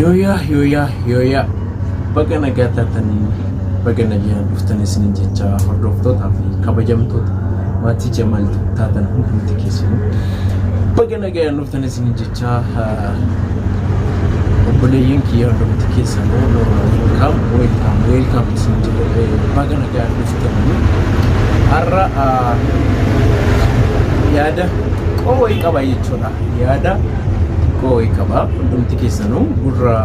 Yooyaa yooyaa yooyaa baga nagaa taatanii baga nagaan dhuftan isinin jecha hordoftootaa fi kabajamtoota maatii jamaal taatan hundumti keessanii baga nagaan dhuftan isinin jecha obboleeyyiin kiyya hundumti keessanuu weelkaam weelkaam weelkaam isin jedhe baga nagaan dhuftanii har'a yaada qowwee qaba jechuudha. Yaada xiqqoo wayii qaba. Hundumti keessanuu gurra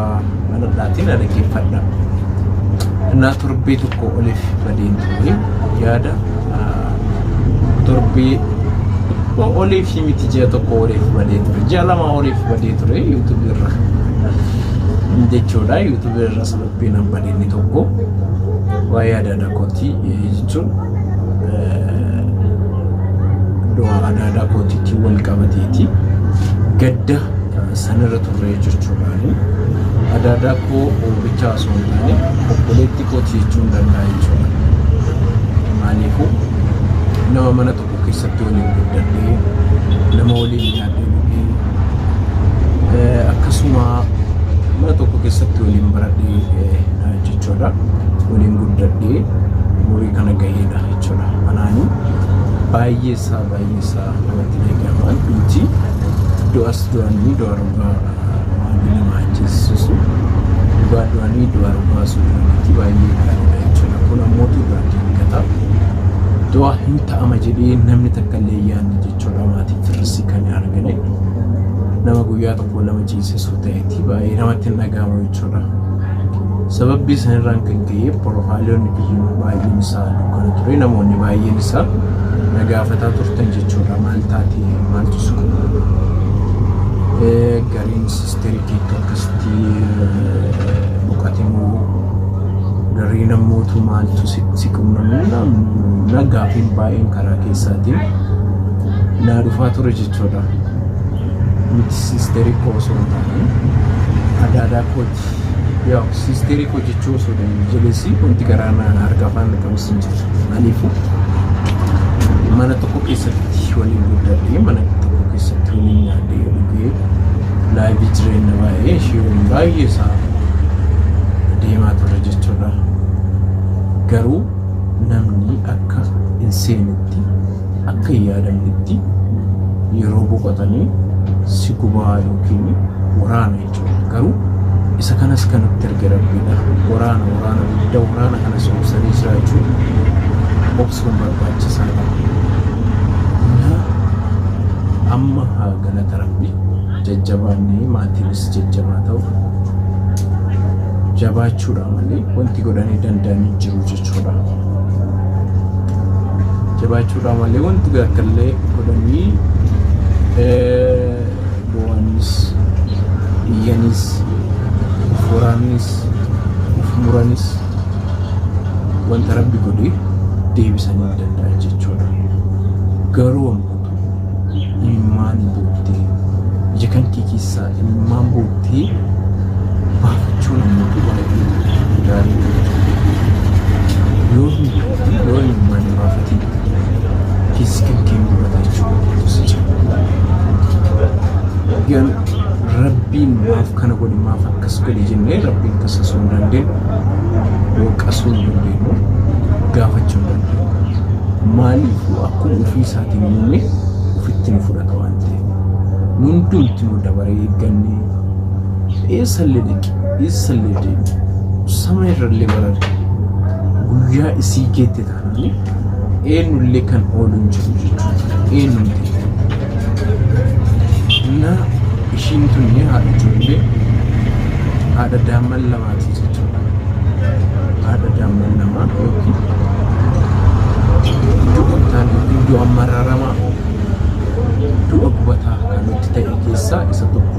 banadhaatiin na dhaggeeffadha. Innaa torbee tokko oliif badeen ture. Yaada ah, torbee xiqqoo oliif miti ji'a tokko oliif badee ture. Ji'a lama oliif badee ture YouTube irra. Jechuudha YouTube irra sana Dubbiin an bade inni tokko waa'ee aadaa aadaa kootii jechuun iddoo aadaa aadaa kootiitti wal qabateeti gadda sanirra turre jechuudhaani aadaa aadaa koo bichaa osoo hin taane obboleetti kooti jechuun danda'a jechuudha. Maaliifuu nama mana tokko keessatti waliin guddadhee nama waliin nyaadhee dhugee eh, akkasuma mana tokko keessatti waliin baradhee eh, jechuudha waliin guddadhee umurii kana gaheedha jechuudha anaanii baay'ee isaa baay'ee isaa namatti eegamaan duuti du'as du'anii du'a rogaa Waanti nama ajjeesisisu dhugaa du'anii du'a dhugaasuu duubatii baay'ee garaa godha jechuudha. Kun ammoo dhugaa deeggata. Du'a hin ta'ama jedhee namni takka illee hin yaadne jechuudha maatii firrissi kan hin argine. Nama guyyaa tokko lama ciisisu ta'eeti baay'ee namatti hin dhaga'amu jechuudha. Sababbii sanirraan kan ka'e porofaayiliyoonni kiyya baay'een isaa dukkana ture namoonni baay'een isaa na gaafataa turtan jechuudha maal taate maaltu si qunna gariin sisterii keetu akkasitti boqate moo garii namootu maaltu si qunna na gaafin baay'een karaa keessaatiin naa dhufaa ture jechuudha miti sisterii koo osoo hin taane adaadaa kooti Yaa siisteerii koo jechuu osoo jajjabeessii wanti garaa na harka afaan na qabus hin jirre. Maaliifuu mana tokko keessatti waliin guddadhee mana tokko keessatti waliin nyaadhee dhugee laayivii jireenya baay'ee ishee waliin baay'ee isaa deemaa turre jechuudha. Garuu namni akka hin seenetti akka hin yaadamnetti yeroo boqotanii si gubaa yookiin waraana jechuudha. Garuu isa kanas kan nutti erge rabbiidha. Waraana waraana guddaa waraana kanas obsanii jiraachuu obsuun barbaachisaadha. Naa amma haa galata rabbi jajjabaannee maatiinis jajjabaa ta'u jabaachuudha malee wanti godhanii danda'an hin jiru jechuudha. Jabaachuudha malee wanti garagallee godhanii eh, boo'anis, iyyanis, uf waraannis, uf muranis wanta rabbi godhe deebisanii hin danda'an jechuudha. Garuu ammoo imimmaan boottee ija kan kee keessaa imimmaan boottee baafachuun ammoo baay'ee gaarii yoo miidhamu Viidiyoo yommaan baafate fiizikal kee mul'ata jechuudha. Garuu rabbiin maaf kana godhe maaf akkas godhe jennee rabbiin kasasuu hin dandeenyu waqasuu hin dandeenyu gaafachuu hin dandeenyu. Maaliif akkuma ofii isaatiin uumee ofitti nu fudhata waan ta'eef. Hundumti nu dabaree eeggannee Eessallee dhaqi, eessallee deemi, sama irrallee barari. Guyyaa isii geette taanaan eenyullee kan oolu hin jiru jechuudha. Eenyullee. Na ishiin tunni haadha ijoollee haadha daa'imman lamaati jechuudha. Haadha daa'imman lamaa yookiin iddoo qabtaan yookiin iddoo amma raramaa du'a gubataa kan nutti ta'e keessaa isa tokko.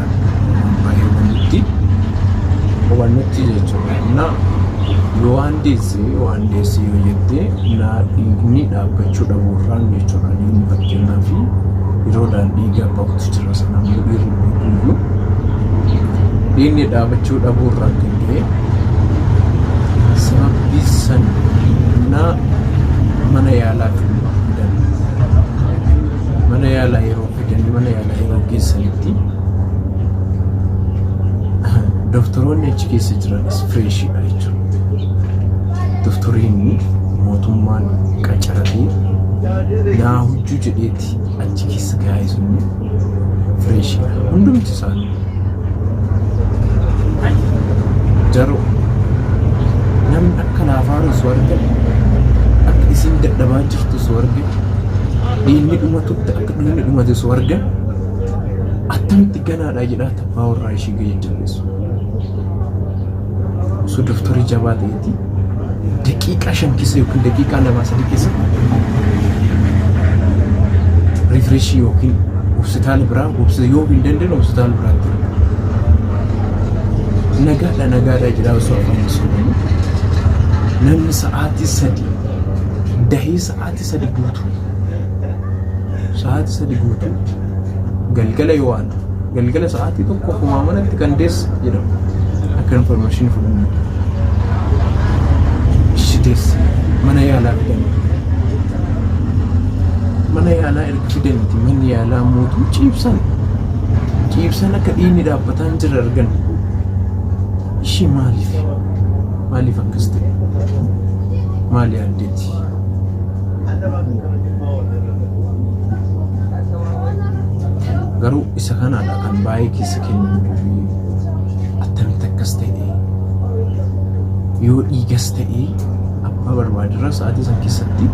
hubannootti hubannootti jechuudha na waan deesse waan deesse yoo jette na dhiigni dhaabbachuu dhabuu irraan jechuudha dhiigni fakkeenyaa fi yeroo daandii gabbatutu jira sana yoo dhiirri gurguyyuu dhiigni dhaabachuu dhabuu irraan kan ka'e sababbii san na mana yaalaa fi mana yaalaa yeroo Ganna mana yaalaa yeroo geessanitti doktoroonni achi keessa jiranis fireeshiidha jechuudha. Doktoriinni mootummaan qacaratee naa hojjuu jedheeti achi keessa kaa'ee sun fireeshiidha. Hundumti isaanii. Jaro namni akka laafaa osoo argan akka isin dadhabaa jirtu osoo argan dhiinni dhumatutti Namni dhumate osoo argan attamitti ganaadha jedhaa tabbaa warraa ishii ga'ee jalleessu. Osoo doktorii jabaa ta'eeti daqiiqaa shan keessa yookiin daqiiqaa lamaa sadii keessa riifreeshii yookiin hospitaala biraa hospitaala yoo hin dandeenye hospitaala biraatti nagaadha nagaadha jedhaa osoo afaan misoomanii namni sa'aatii sadii dahee sa'aatii sadii guutuu sa'aatii sadi guutuu galgala yoo aanu galgala sa'aatii tokko kumaa manatti kan deessa jedhamu akka information fudhanna ishi deessa mana yaalaa fidanii mana yaalaa erga fidaniiti manni yaalaa mootuu ciibsan ciibsan akka dhiigni dhaabbataa hin jirre argan ishii maaliif maaliif akkas ta'e maali addeeti garuu isa kanaadha kan baay'ee keessa kennu attamitti akkas ta'e yoo dhiigas ta'e abbaa barbaadirraa sa'aatii san keessatti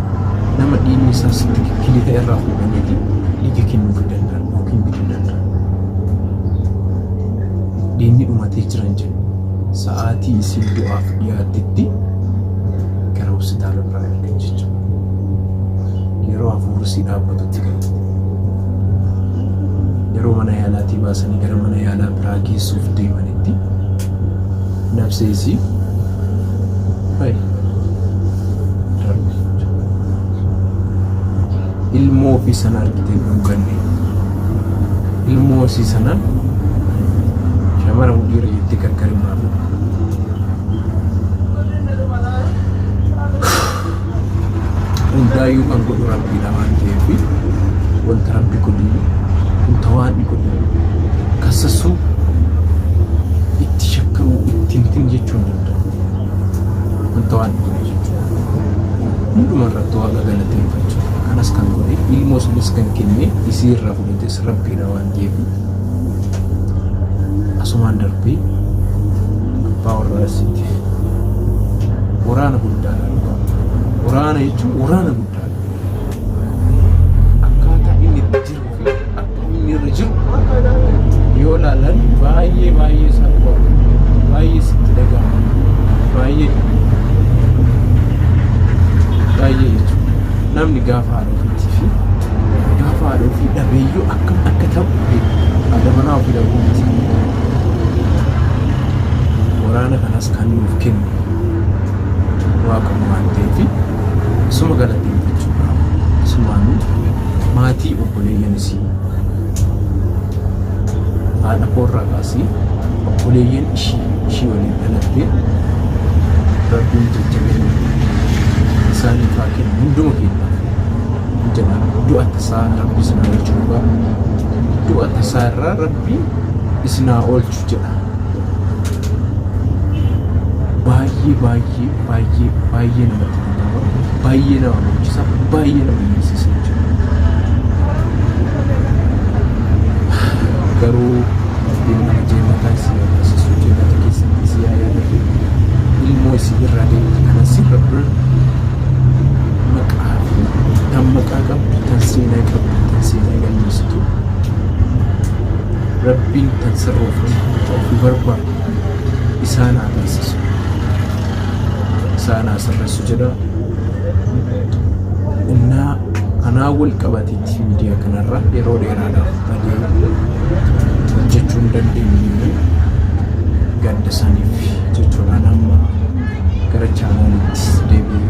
nama dhiigni isaas kilita irraa fuudhameeti dhiiga kennuuf danda'an yookiin bituu danda'an dhiigni dhumatee jiran jedhu sa'aatii isin du'aaf dhiyaattetti gara hospitaala biraa ergan jecha yeroo hafuurri si dhaabbatutti gahe yeroo mana yaalaatii baasanii gara mana yaalaa biraa geessuuf deemanitti nabsee isii bahe darbe jechuudha. ilmoo ofii sana argitee dhuuganne ilmoo osii sana shamara mudhiira jettee gargar hin baafne. Hundaayyuu kan godhu rabbiidha waan ta'eef wanta rabbi godhu wanta waan godhu kassasuu itti shakkaruu itti hin jechuun danda'u. wanta waan godhe jechuudha. Hunduma irratti waaqa galateeffachuuf kanas kan godhe ilmoo sanis kan kenne isii irraa fudhates rabbiidha waan ta'eef asumaan darbee abbaa warraa isiitiif waraana guddaadha. Waraana jechuun waraana guddaadha. Akkamiin irra jiru yoo ilaalan baay'ee baay'ee salpha baay'ee sitti dhaga'ama baay'ee baay'ee jechuudha namni gaafa haadha ofiitii fi gaafa haadha ofii dhabeeyyuu akkam akka ta'u haadha manaa ofii dhabuu isaanii waraana kanas kan nuuf kenne waaquma waan ta'eef isuma galateeffachuudha isumaanuu maatii obboleeyyan isii haadha koorraa kaasee obboleeyyan ishii ishii waliin dhalattee rabbiin jajjabina isaaniif haa kennu hunduma keenya hin jedhaan du'a tasaa rabbi isin haa oolchu dhugaa du'a tasaa irraa rabbi isin haa oolchu jedha baay'ee baay'ee baay'ee baay'ee namatti tolaa baay'ee nama bochisa baay'ee nama hiisisa garuu deemaa jee mataa isin agarsiisu jee mata keessatti si yaa yaadatu ilmoo isin irraa deemte kana si irra maqaa tan maqaa qabdu tan seenaa qabdu tan seenaa galmeessitu rabbiin tan sirroofte ofii barbaadu isaan haa taasisu isaan haa sirressu jedha innaa kanaa wal qabateetti miidiyaa kanarra yeroo dheeraadhaaf badee hojjechuu hin dandeenye gadda isaaniif jechuudhaan amma gara chaanaalitti deebi'ee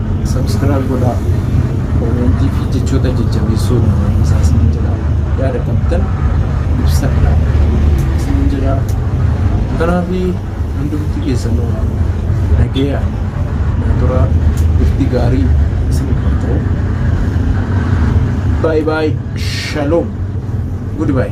Subscribe godhaa. Koomeentii fi jechoota jajjabeessoo nu barreessaa isiniin jedha. Yaada qabdan ibsa kana isiniin jedha. Kanaa fi hundumti keessan nageeya na turaa turtii gaarii isiniif haa ta'u. Bye bye. Shalom. Goodbye.